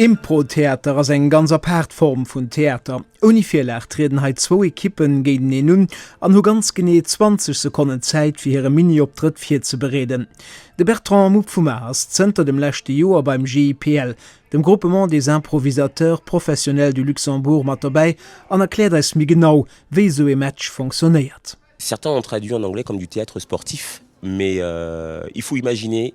Improtheater ass eng ganz apaart Form vun Theater. Ouni Virlag trieden hei zwou Ekippen géinteneen un an hu ganz genee 20 Sekonnen Zäit fir hire Mini-Optrëtt virzebereeden. De Bertrand Mupp vum a ass zënter dem leschte Joer beim GIPL, dem Groupement des Improvisateurs Professionnels du Luxembourg, mat dobäi an erkläert eis méi genau, wéi esou ee Match fonctionnéiert. Certains ont traduit en anglais comme du théâtre sportif, mais il faut imaginer.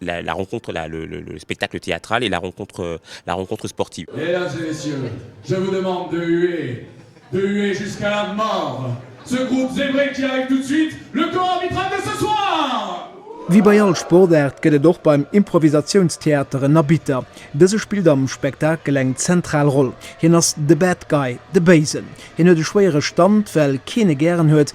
La rencontre, la, le, le, le spectacle théâtral et la rencontre, la rencontre sportive. Mesdames et Messieurs, je vous demande de huer, de huer jusqu'à la mort ce groupe zébré qui arrive tout de suite, le corps arbitral de ce soir! Wéi bei all Sportaart gëtt et och beim Improvisatiounstheater en Arbitter. Dëse spillt am Spektakel eng zentral Roll. Hien ass the bad guy, de Béisen. Hien huet e schwéiere Stand, well keen e gären huet,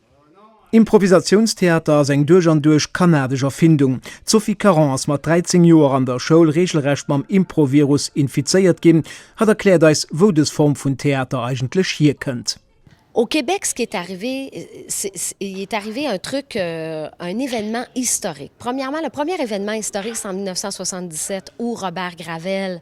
Improvisatiounstheater ass eng duerch an duerch kanadesch Erfindung. D'Sophie Caron ass mat 13 Joer an der Schoul reegelrecht mam Impro-Virus infizéiert ginn. Hatt erkläert eis, wou dës Form vun Theater eigentlech hierkënnt. Au Québec, ce qui est arrivé, c'est, il est arrivé un truc, un événement historique. Premièrement, le premier événement historique, c'est en 1977, où Robert Gravel,